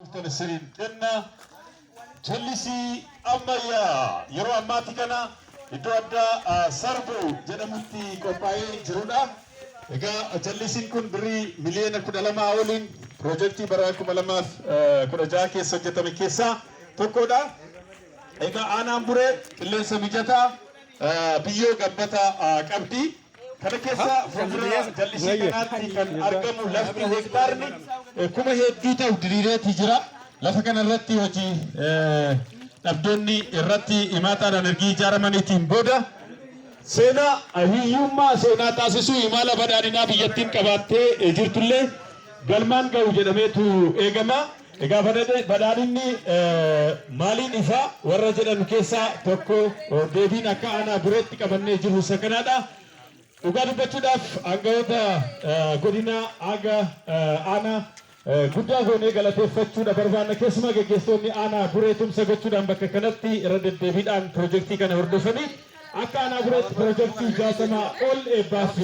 Tole siriin kenna jallisii ammayyaa yeroo ammaatti kana iddoo addaa ah, sarbo jedhamutti qophaa'ee jirudha. Egaa jallisiin kun birrii miliyoona kudha lamaa oliin piroojeektii bara kuma lamaaf eh, kudha jaha keessa hojjetame keessaa tokkodha. Egaa aanaan buree qilleensa mijataa eh, biyyoo gabbataa ah, qabdi. Kana keessa fuuldura jallisii kanaatti kan argamu lafti hektaarni kuma hedduu ta'u diriireeti jira. Lafa kana irratti hojii dhabdoonni irratti imaataadhaan erga ijaaramaniitiin booda seenaa hiyyummaa seenaa taasisuu imaala badhaadhinaa biyyattiin qabaattee jirtullee galmaan ga'u jedhameetu eegama. Egaa badhadhe- badhaadhinni eh, maaliin ifa warra jedhan keessaa tokko oh, deebiin akka aanaa birootti qabannee jirru isa kanaadha. Dhugaa dubbachuudhaaf aangawoota eh, godina aga eh, aanaa eh, guddaa goonee galateeffachuudha barbaanna. Keessumaa geggeessitoonni aanaa buree tumsa gochuudhaan bakka kanatti irra deddeebiidhaan pirojektii kana hordofanii Akka Aanaa Bureetti Pirojektii 60 ol eebbaaf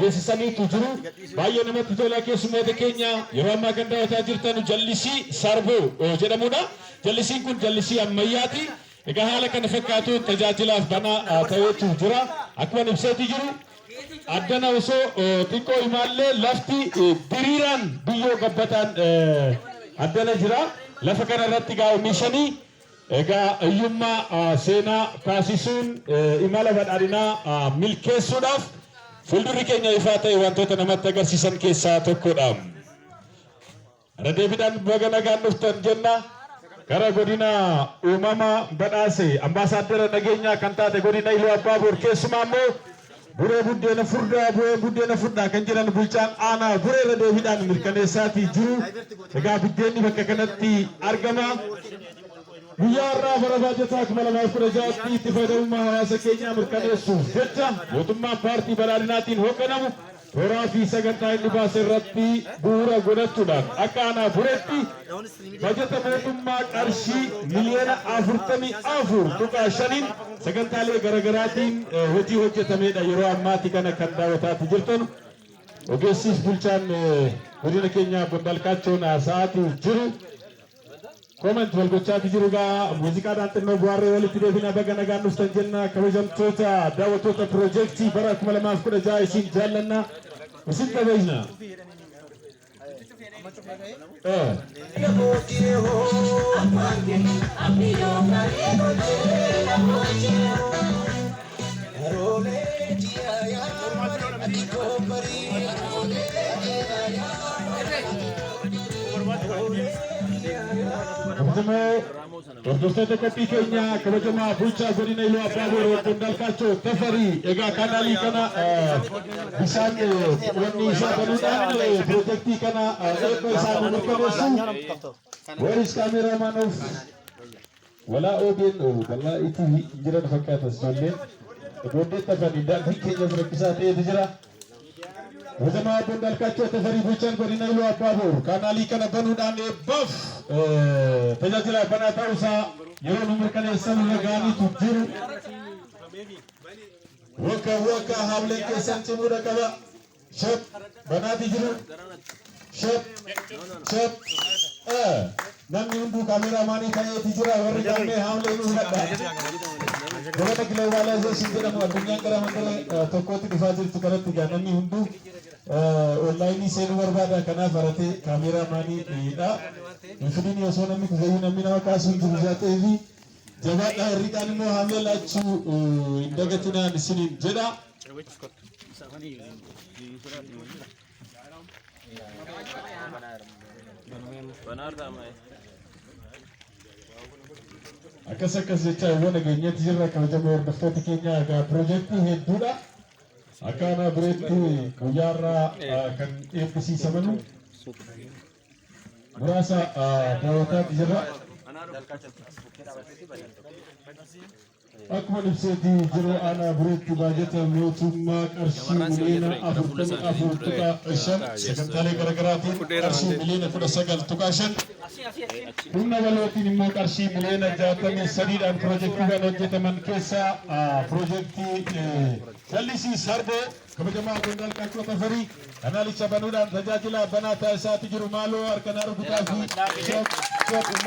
geessisaniitu jiru. Baay'ee namatti tola. Keessummoota keenya yeroo ammaa kan daawwataa jirtan jallisii Sarbuu jedhamudha. Jallisiin kun jallisii ammayyaati. Egaa haala kana fakkaatuun tajaajilaaf banaa ta'eetu jira. Akkuma ibseeti jiru addana osoo xiqqoo imaallee lafti diriiraan biyyoo gabbataan addana jira. Lafa kana irratti gaa oomishanii Egaa hiyyummaa seenaa kaasisuun imala badhaadhinaa milkeessuudhaaf fuuldurri keenya ifaa ta'e wantoota namatti agarsiisan keessaa tokkodha. Irra deebiidhaan baga nagaan dhuftan jenna. Gara godina uumama badhaase ambaasaaddara nageenyaa kan taate godina Iluu Abbaa Boor keessumaa immoo Buree buddeena furdaa bu'ee buddeena furdhaa kan jedhan bulchaan aanaa buree irra deebiidhaan mirkaneessaatii jiru. Egaa biddeenni bakka kanatti argama. Guyyaa har'aa bara baajataa 2016tti itti fayyadamummaa hawaasa keenyaa mirkaneessuuf jecha mootummaan paartii badhaadhinaatiin hoogganamu Horaa fi sagantaa inni baase irratti bu'uura godhachuudhaan akka aanaa bureetti bajata mootummaa qarshii miliyoona afurtamii afur tuqaa shaniin sagantaalee garaagaraatiin eh, hojii hojjetamedha yeroo ammaati kana kan daawwataati jirtan ogeessiif bulchaan eh, godina keenyaa Bondalkaachoon haasa'aati jiru. Comment wal gochaati jiru gaa muuziqaadhaan xinnoo bu'aarree walitti deebina baga nagaan dhuftan jenna kabajamtoota daawwattoota piroojeektii bara 2016 isin jaallanna isin kabajna. Eh. Akkasumoo hordoftoota qophii keenya kabajamaa bulchaa godina Iluu Abbaa Booroo obbo Ndaalkaachoo Tafarii egaa kanaalii kana bishaan wanni isaa banuudhaan pirojektii kana eebba isaa mirkaneessu. Where is cameraman of Walaa OBN bal'aa itti hin jiran fakkaata ijoolleen. Ijoolleen tafan daandiin keenyas rakkisaa ta'etu jira. Wazamaa Abboon Daalkaachoo Tafarii Bulchaan Godina Iluu Abbaa Boor kaanaalii kana banuudhaan eebbaaf tajaajila banaa ta'uusaa yeroo nu mirkaneessan irra ga'aniitu jiru. Waggaa waggaa haamileen keessan cimuudha qaba. Shot. Banaatii jiru. Shot. Shot. Eh, Namni hunduu kaameeraa maanii ta'eeti jira. Warri gammee haamlee nu hidhadha. Dabata globalization jedhamu addunyaan gara mandara eh, tokkootti dhufaa jirtu kanatti egaa namni hunduu eh, onlaayinii seenuu barbaada. Kanaaf haratee kaameeraa maanii hidha. Hin fidini osoo namni kufayyuu namni nama kaasuu hin jiru jaatee fi Jabaadhaa irri kaan immoo haamee laachuu hin dagatinaan isiniin jedha. Akkas akkas jechaa yoo nageenyatti jirra kabajamoo hordoftoota keenya egaa piroojeektii hedduudha. Akka aanaa bireetti guyyaarraa kan eebbisiisamanu muraasa daawwataatti jirra. Akkuma ibseeti jiru aanaa bureetti baajata mootummaa qarshii miliyoona afurtamii afur tuqaa shan sagantaalee garaagaraatiin qarshii miliyoona kudha sagal tuqaa shan humna walootiin immoo qarshii miliyoona jaatamii sadiidhaan piroojeektiiwwan hojjetaman keessaa piroojeektii jallisii sarboo kabajamaa qondaalqaachoo tafarii Kanaalicha banuudhaan tajaajilaa banaa taasisaati jiru maaloo harka naa rukutaa fi shop shop ummanni.